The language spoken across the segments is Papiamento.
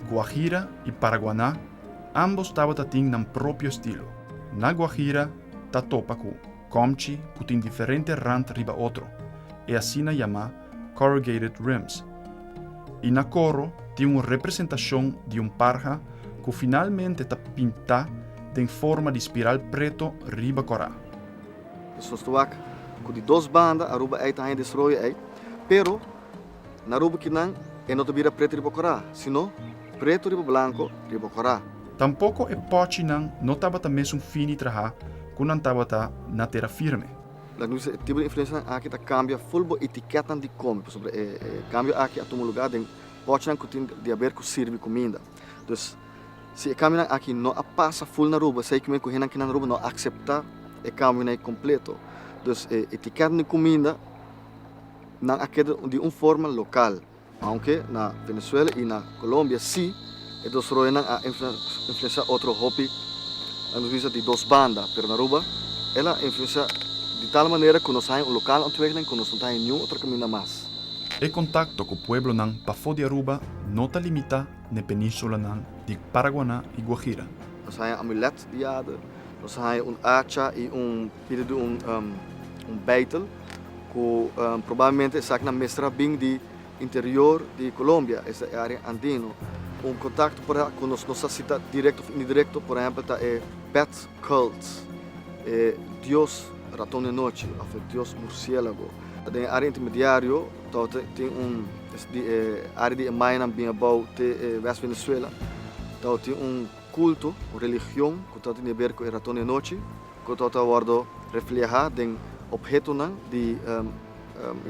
Guajira i Paraguaná ambos tabata tin nan propio estilo. Na Guajira ta topa ku kòmchi ku tin diferente rant riba otro, e asina yamá corrugated rims. I na koro tin un representashon di un parha ku finalmente ta pintá den forma di spiral preto riba kòrá. Esun stuak ku di dos banda Aruba ei ta haña desroyo ei, pero. Na rubu kinan e no ta bira pretu riba kora, sino pretu riba blanku riba kora. Tampoko e pòchinan no tabata mesun fini trahá ku nan tabata na tera firme. Laga mi bisa e tipo di influensianan aki ta kambia ful bo itikètnan di kome, pasobra e kambio aki a tuma lugá den pòchinan ku tin di aber ku sirbi kuminda. Dus, si e kambionan aki no a pasa ful na rubu, esei kuminda ku hennan kinan na rubu no a akseptá e kambionan ei kompleto. Dus, e itikètnan di kuminda. Nan a keda di un forma lokal, aunke na Venezuela i na Colombia si e dos roenan a influensiá otro hopi, nan nos bisa di dos banda, pero na Aruba el a influensiá di tal manera ku nos haña un lokal ontwikkeling ku nos no ta haña niun otro kaminda mas. E kontakto ku pueblonan pafó di Aruba no ta limitá na e penínsulanan di Paraguaná i Guajira. Nos haña amulet di yada, nos haña un acha i un. Pidi di un beitel ku probablemente esaknan mester a bin di interior di Colombia, esta e área andino. Un kontakto por a ku nos no sa si ta direkto òf indirekto por ehèmpel ta e Bat Cult, e dios raton di anochi òf e dios mursiélago. Den e área intermediario tabata tin un di e área di e mayanan bin abou te e west Venezuela tabata tin un kulto, un religion ku tabata tin di aber ku e raton di anochi. Cu ta ta wordo refleha den obhetonan di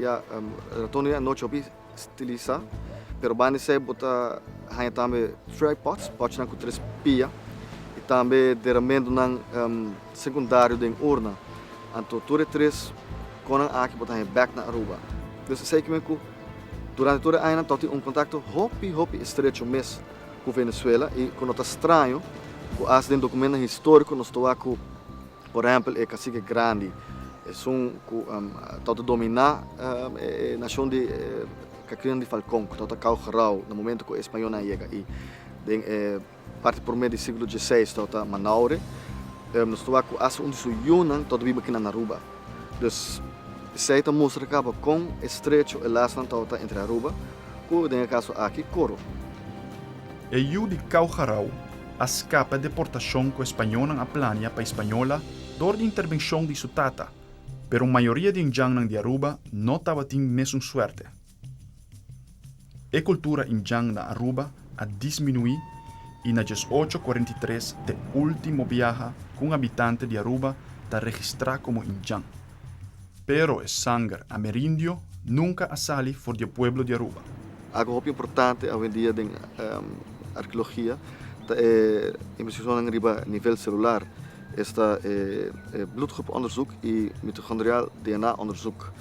ya ratonan di anochi hopi stilisa. Pero banda esey bo ta haña tambe tripods, potshnan cu tres pia, y tambe deramendonan secundario den urna. Anto tur e tres conan aki bo ta haña bek na Aruba. Pues esey kimen cu durante tur e añanan ta tin un contacto hopi hopi estrecho mes. ku Venezuela i ku no ta straño ku as den dokumentonan históriko nos ta wak ku por ehèmpel e kasike grandi esun ku tabata dominá e nashon di Katrina di Falkon ku tabata kau grou na momentu ku e spañolnan a yega i den e parti promé di siglo diesiseis tabata Manaure nos ta wak ku as un di su yunan tabata biba aki na Naruba. Dus, esei ta mustra caba con estrecho e laznan tabata entre Aruba cu, den e caso aki, Coro. E yu di Cau Jarau a scapa e deportacion cu e Spañonan a plania pa Ispañola dor di intervencion di su tata, pero mayoria di e ndjannan di Aruba no tabatin mesun suerte. E kultura Injan na Aruba a disminuí i na djes ocho kuarenta i tres t'e último biaha ku un habitante di Aruba ta registrá komo Injan. Pero e sanger amerindio nunka a sali for di e pueblo di Aruba. Algu hopi importante awendia den arkeologia ta e investigashonnan riba nivel selular, esta e blutgroep-onderzoek i mitochondriaal DNA-onderzoek.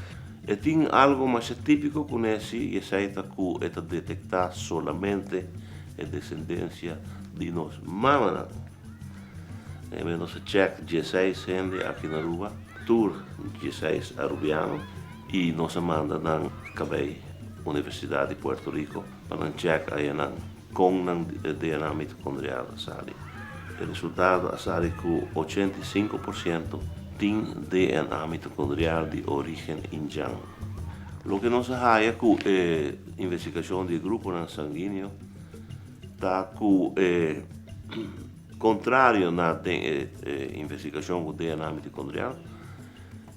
E tin algo masha típiko ku nèsi i esei ta ku e ta detektá solamente e desendensia di nos mamanan. Maybe nos a chèk dieseis hende aki na Aruba, tur dieseis arubiano, i nos a manda nan kabei Universidat di Puerto Riko pa nan chèk ayenan. Con nan DNA mitocondrial a sali? E resultado a sali cu ochenta i sinku por ciento tin DNA mitocondrial di origen Indian. Loke nos a haya cu e investigacion di e gruponan sanguineo ta cu e contrario na den e investigacion cu DNA mitocondrial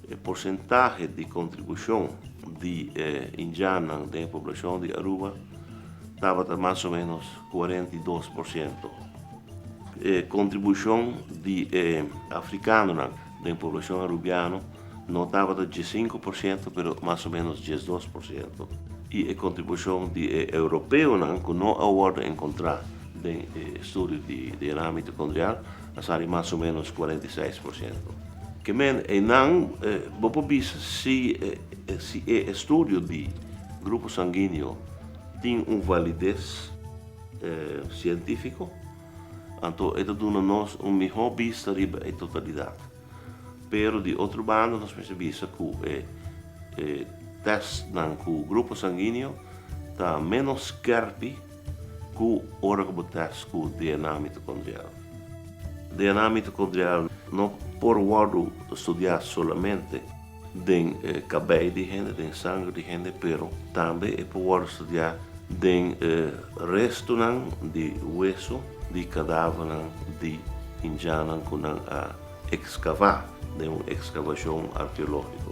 E porcentahe di contribucion di e Indiannan den e poblacion di Aruba tabata mas o menos cuarenta i dos por ciento. E contribucion di e Africanonan den poblacion Arubiano no tabata diescinco por ciento pero mas o menos diesdos por ciento. Y e contribucion di e Europeonan cu no a wordo encontra den e estudio di DNA mitocondrial A sali mas o menos cuarenta y seis por ciento. Ke men einan bo por bisa si si e estudio di grupo sanguineo tin un valides cientifico, anto e ta duna nos un miho bista riba e totalidad. Pero di otro banda nos mester bisa ku e testnan ku grupo sanguineo ta menos skerpi, Ku ora ku bo tèst ku DNA mitokondrial? DNA mitokondrial no por wòrdu studiá solamente den kabei di hende, den sanger di hende, pero tambe e por wòrdu studiá den restunan di weso di kadávernan di hinjanan ku nan a ekskavá den un ekskavashon arkeológiko.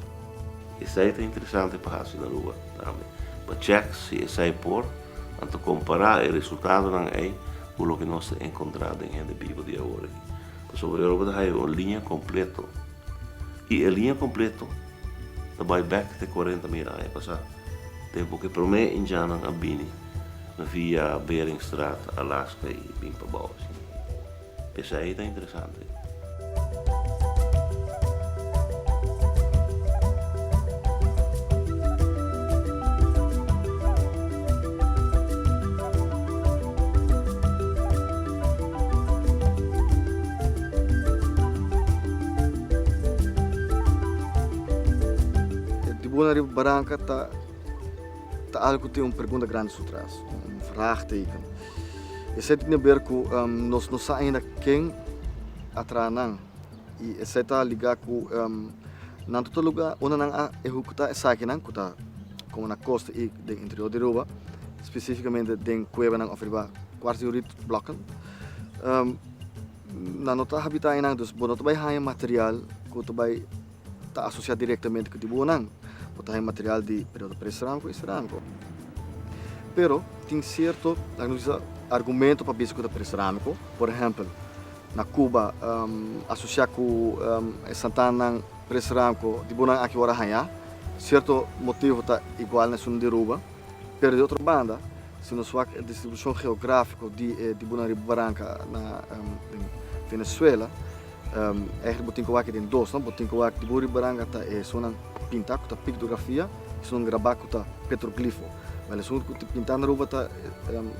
Esei ta interesante pa hasi na Aruba tambe pa chèk si esei por. Nan ta kompará e resultadonan ei ku loke nos ta enkontrá den hende bibo di awor aki. Pasobra Europa ta haya un liña kompleto, i e liña kompleto ta bai bèk te kuarenta mil aña pasá, tempu ku e promé Indiannan a bini via Beringstraat, Alaska, i bin pa bou. Esei ta interesante. E tribuna riba baranca ta alcu cu tin un pregunta grandi su tras, un vraagteken. Esei tin aber ku nos no sa ainda ken a traha nan i esei ta ligá ku nan total lugá unda nan a ehekutá esakinan ku ta komo na kosta i den interior di Aruba, spesífikamente den kuebanan òf riba kuartsjoriet blòkken. Nan no ta habitá einan, dus bo no ta bai haña material ku ta bai. ta asosiá direktamente ku dibuhonan, ku ta haña material di periodo prehispánico i serámico. Pero tin sierto argumento pa bisa ku ta prehispánico, por ehèmpel, na Cuba asosiá ku e santanan prehispánico dibuhonan aki wòrdu hañá, sierto motivo ta igual na esun di Aruba, pero di otro banda si nos wak e distribushon geográfiko di e dibuhonan riba baranka na Venezuela, Eigenlijk bo tin ku wak den dos no, bo tin ku wak di bo ribaranga ta e esunnan pintá ku ta piktografia, esunnan grabá ku ta petroglifo. Wel esun ku tin pintá na Aruba ta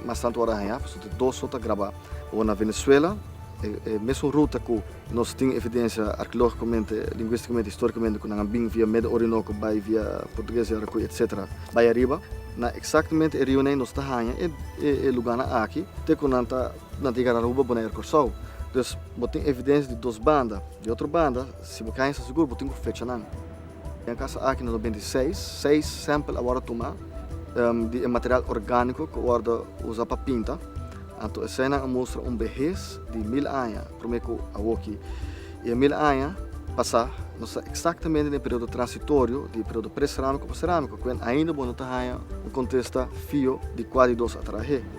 mas tantu wòrdu hañá pasobra ta dos so ta grabá. Ora na Venezuela e mesun ruta ku nos tin evidensia arkeológikomente, linguístikamente, historikamente ku nan a bin via Meda Orinoko bai via Portuges Yarakuy etsetera bai ariba na eksaktamente e riunan nos ta haña e lugánan aki te ku nan ta Nan tin cara Aruba bo na aer Corsou. Dus bo tin evidencia di dos banda. Di otro banda si bo kaya sta segur bo tin cu fecha nan. Den casa aki nos a binti seis, seis sample a wordo tuma di e material organico cu a wordo usa pa pinta. Anto escenan a mustra un behes di mil aña prome cu awoki. Y e mil aña pasa nos sta exactamente den e periodo transitorio di periodo pre-ceramico pa ceramico cu ainda bo no ta haya un contesta fio di cua di dos a traha ahe.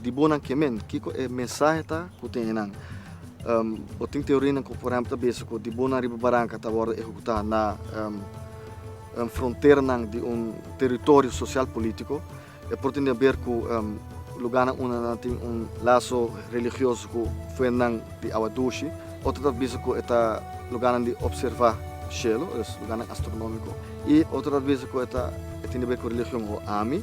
Di bonan ke men, kiko e mensahe ta ku tin einan? Bo tin teorinan ku por ehèmpel ta bisa ku di bonan riba baranka ta wòrdu ehekutá na fronteranan di un teritorio sosial polítiko. E por tende aber ku lugánan unda nan tin un laso religioso ku fuentnan di awa dushi. Otro ta bisa ku e ta lugánan di opservá shelu, es lugánan astronómiko. I otro ta bisa ku e tende aber ku religion o ami.